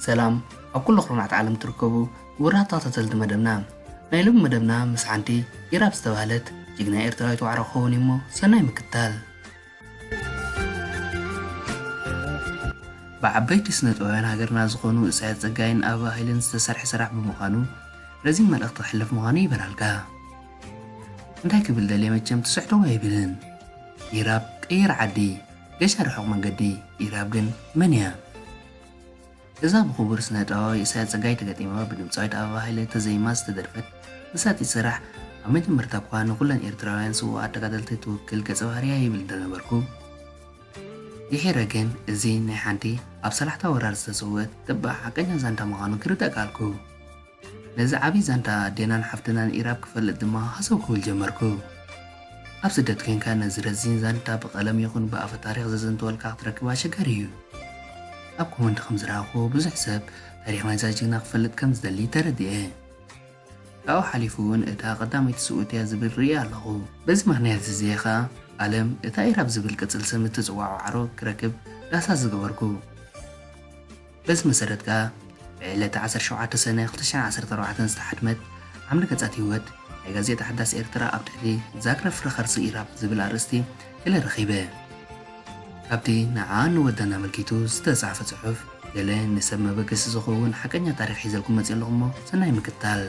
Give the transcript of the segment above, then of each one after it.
ሰላም ኣብ ኩሉ ኩርናዕቲ ዓለም ትርከቡ ውራት ተኸታተልቲ መደብና ናይ ሎሚ መደብና ምስ ሓንቲ ኢራብ ዝተባህለት ጅግና ኤርትራዊት ዋዕሮ ክኸውን እዩሞ ሰናይ ምክታል ብዓበይቲ ስነጥበባውያን ሃገርና ዝኾኑ እሳያስ ጸጋይን ኣበባ ሃይለን ዝተሰርሐ ስራሕ ብምዃኑ ረዚን መልእኽቲ ክሕልፍ ምዃኑ ይበራልካ። እንታይ ክብል ደልየ መቸም ትስሕትዎ ኣይብልን ኢራብ ቀይር ዓዲ ገሻ ርሑቕ መንገዲ ኢራብ ግን መን እያ? እዛ ብክቡር ስነጥበባዊ ኢሳያስ ጸጋይ ተገጢማ ብድምጻዊት ኣበባ ሃይለ ተዘይማ ዝተደርፈት መሳጢት ስራሕ ኣብ መጀመርታ'ኳ ንኹለን ኤርትራውያን ስውኣት ተጋደልቲ ትውክል ገጸ ባህሪ'ያ ይብል እንተነበርኩ ድሒረ ግን እዚ ናይ ሓንቲ ኣብ ሰላሕታ ወራር ዝተሰውእት ተባዕ ሓቀኛ ዛንታ ምዃኑ ክርዳእ ከኣልኩ። ነዚ ዓቢ ዛንታ ዴናን ሓፍትናን ኢራብ ክፈልጥ ድማ ሃሰው ክብል ጀመርኩ። ኣብ ስደት ኮንካ ነዚ ረዚን ዛንታ ብቀለም ይኹን ብኣፈ ታሪኽ ዘዘንትወልካ ክትረክብ ኣሸጋሪ እዩ። ኣብ ኮመንት ከም ዝረኣኹዎ ብዙሕ ሰብ ታሪኽ ናይዛ ጅግና ክፈልጥ ከም ዝደሊ ተረዲኤ። ካብኡ ሓሊፉ እውን እታ ቀዳመይቲ ስውእቲ እያ ዝብል ርእየ ኣለኹ። በዚ ምኽንያት እዚ እየ ከኣ ኣለም እታ ኢራብ ዝብል ቅጽል ስም እትጽውዖ ዋዕሮ ክረክብ ዳህሳስ ዝገበርኩ። በዚ መሰረት ከኣ ብዕለተ ዓሰርተ ሸውዓተ ሰነ ክልተ ሽሕን ዓሰርተ ኣርባዕተን ዝተሓትመት ዓምዲ ገጻት ህይወት ናይ ጋዜጣ ሓዳስ ኤርትራ ኣብ ትሕቲ ዛግረ ፍረ ከርሲ ኢራብ ዝብል ኣርእስቲ ገለ ረኺበ። ካብቲ ንዓኣን ንወዳን ኣመልኪቱ ዝተጻሕፈ ጽሑፍ ገለ ንሰብ መበገሲ ዝኸውን ሓቀኛ ታሪኽ ሒዘልኩም መጺኤ ኣለኹ እሞ ሰናይ ምክትታል።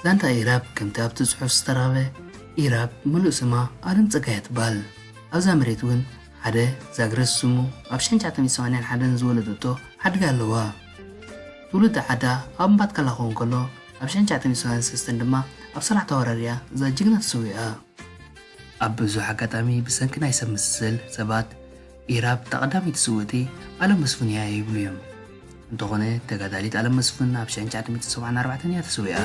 ዛንታ ኢራብ ከምቲ ኣብቲ ጽሑፍ ዝተራበ ኢራብ ምሉእ ስማ ኣለም ጸጋይ ትባል ኣብዛ መሬት ውን ሓደ ዛግረስ ስሙ ኣብ ሽሕን ትሽዓተ ሚእትን ሰማንያን ሓደን ዝወለደቶ ሓድጊ ኣለዋ ትውልዲ ዓዳ ኣብ እምባትካላ ክኸውን ከሎ ኣብ ሽሕን ትሽዓተ ሚእትን ሰማንያን ሰለስተን ድማ ኣብ ሰራሕ ተወራሪያ እዛ ጅግና ተሰዊኣ ኣብ ብዙሕ ኣጋጣሚ ብሰንኪ ናይ ሰብ መሰል ሰባት ኢራብ እታ ቀዳመይቲ ስውእቲ ኣለም መስፍን እያ ይብሉ እዮም። እንተኾነ ተጋዳሊት ኣለም መስፍን ኣብ ሽሕን ትሽዓተ ሚእትን ሰብዓን ኣርባዕተን እያ ተሰዊኣ።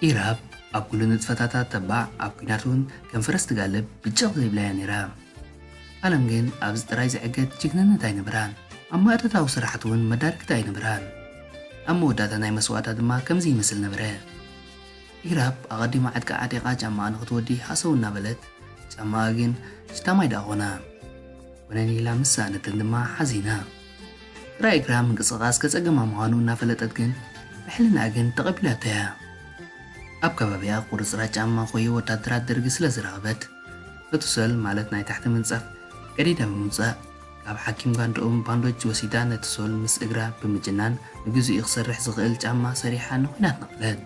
ኢራብ ኣብ ኩሉ ንጥፈታታ ተባዕ፣ ኣብ ኲናት እውን ከም ፈረስ ትጋልብ ብጨቕ ዘይብላ እያ ነይራ። ኣለም ግን ኣብዚ ጥራይ ዝዕገት ጅግንነት ኣይነበራን። ኣብ ማእቶታዊ ስራሓት እውን መዳርግቲ ኣይነበራን። ኣብ መወዳእታ ናይ መስዋእታ ድማ ከምዚ ይመስል ነበረ። ኢራብ ኣቐዲማ ዕጥቃ ዓጢቓ ጫማኣ ንኽትወዲ ሃሰው እናበለት፣ ጫማኣ ግን ሽታማይ ደኣ ኮነ። ኮነን ኢላ ምስ ሰኣነተን ድማ ሓዚና። ጥራይ እግራ ምንቅስቓስ ከጸገማ ምዃኑ እናፈለጠት ግን ብሕልናኣ ግን ተቐቢላቶ እያ። ኣብ ከባቢኣ ቁርጽራጽ ጫማ ኮዮ ወታደራት ደርጊ ስለ ዝረኸበት፣ ነቱ ሰል ማለት ናይ ታሕቲ ምንጻፍ ቀዲዳ ብምውጻእ፣ ካብ ሓኪም ጋንድኡም ባንዶጅ ወሲዳ ነቲ ሶል ምስ እግራ ብምጅናን ንግዚኡ ክሰርሕ ዝኽእል ጫማ ሰሪሓ ንኩናት ነቐለት።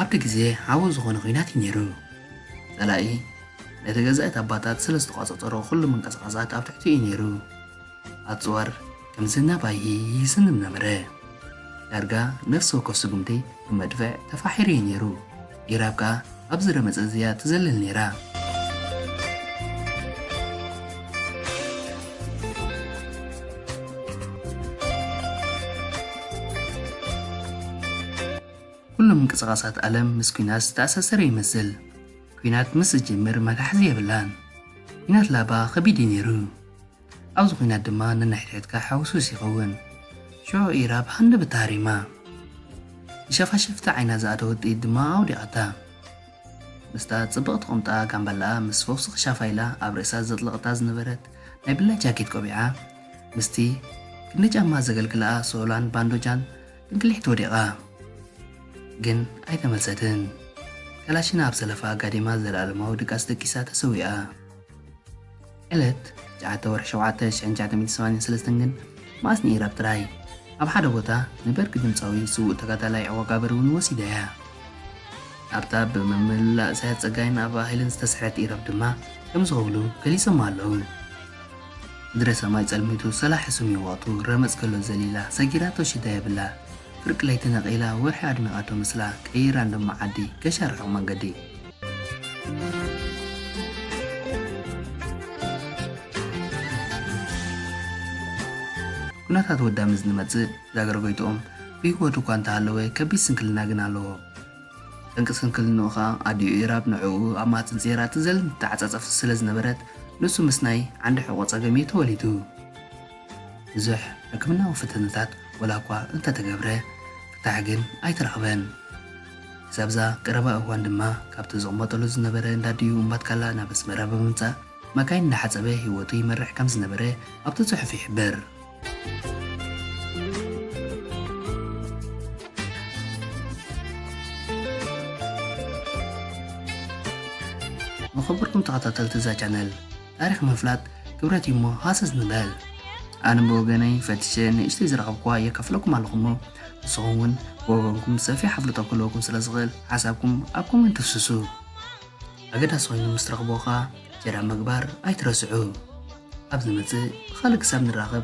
ኣብቲ ግዜ ሓዊ ዝኾነ ኩናት እዩ ነይሩ። ጸላኢ ነቲ ገዛ እቲ ኣባታት ስለ ዝተቋጸጸሮ ኩሉ ምንቅስቓሳት ኣብ ትሕቲኡ እዩ ነይሩ። ኣጽዋር ከም ዝናብ ኣይሂ ይዝንብ ነበረ። ዳርጋ ነፍሲ ወከፍ ስጉምቲ ብመድፍዕ ተፋሒሩ እዩ ነይሩ። ኢራብ ከኣ ኣብዚ ረመጽ እዚ እያ ትዘልል ነይራ። ኩሉ ምንቅስቓሳት ኣለም ምስ ኲናት ዝተኣሳሰረ ይመስል። ኲናት ምስ ዝጅምር መታሕዚ የብላን። ኲናት ላባ ከቢድ እዩ ነይሩ። ኣብዚ ኹናት ድማ ነንሕድሕድካ ሓውሱስ ይኸውን። ሽዑ ኢራ ብሃንደበታ ሃሪማ፣ ንሸፋሸፍቲ ዓይና ዝኣደወት ጥይት ድማ ኣውዲቓታ። ምስታ ጽብቕቲ ቁምጣ ጋምባላኣ ምስ ፈውሲ ክሻፋ ኢላ ኣብ ርእሳ ዘጥለቐታ ዝነበረት ናይ ብላይ ጃኬት ቆቢዓ፣ ምስቲ ክንዲ ጫማ ዘገልግላኣ ሶላን ባንዶጃን ጥንቅሊሕት ወዲቓ። ግን ኣይተመልሰትን። ከላሽና ኣብ ሰለፋ ኣጋዲማ ዘለኣለማዊ ድቃስ ደቂሳ ተሰዊኣ። ዕለት ትሽዓተ ወርሒ ሸውዓተ ሽሕን ትሽዓተ ሚእትን ሰማንያን ሰለስተን ግን መኣስ ንኢራብ ጥራይ ኣብ ሓደ ቦታ ንበርቂ ድምጻዊ ስዉእ ተጋዳላይ ዐወጋብር እውን ወሲዳያ። ኣብታ ብመምህልላ እሳያስ ጸጋይን ኣበባ ሃይለን ዝተስርሐት ኢራብ ድማ ከም ዝኸብሉ ገሊጾማ ኣለዉ። ምድረ ሰማይ ጸልሚቱ ሰላሒ ስሚዩ ወቕቱ ረመጽ ከሎ ዘሊላ ሰጊራቶ ሽዳ የብላ ፍርቂ ለይቲ ነቒላ ወርሒ ኣድሚቓቶ ምስላ ቀይራ ንደማ ዓዲ ገሻ ርሑቕ መንገዲ ኩነታት ወዳ ምስ ዝመጽእ ዛገርጎይትኦም ብህይወት እኳ እንተሃለወ ከቢድ ስንክልና ግን ኣለዎ። ጠንቂ ስንክልንኡ ከኣ ኣዲኡ ኢራብ ንዕኡ ኣብ ማህጽን ጸይራ ትዘልን ትተዓጻጸፍን ስለ ዝነበረት ንሱ ምስናይ ዓንዲ ሕቖ ጸገም እዩ ተወሊዱ። ብዙሕ ሕክምናዊ ፈተነታት ወላኳ እንተተገብረ ፍታሕ ግን ኣይተረኽበን። ክሳብዛ ቀረባ እዋን ድማ ካብቲ ዝቕመጠሉ ዝነበረ እንዳ ድዩ እምባትካላ ናብ ኣስመራ ብምምጻእ መካይን እንዳሓጸበ ህይወቱ ይመርሕ ከም ዝነበረ ኣብቲ ጽሑፍ ይሕብር። ንኽቡርኩም ተኸታተልቲ እዛ ቻነል! ታሪኽ ምፍላጥ ክብረት እዩ እሞ ሃሰስ ንበል። ኣነ ብወገነይ ፈቲሸ ንእሽተይ ዝረኸብኩዋ የከፍለኩም ኣለኹ እሞ ንስኹም እውን ብወገንኩም ሰፊሕ ኣፍልጦ ክህልወኩም ስለ ዝኽእል ሓሳብኩም ኣብ ኮመንት ፍስሱ። ኣገዳሲ ኮይኑ ምስ ትረኽብዎ ከኣ ሸር ኣብ ምግባር ኣይትረስዑ። ኣብ ዝመጽእ ብኻልእ ክሳብ ንራኸብ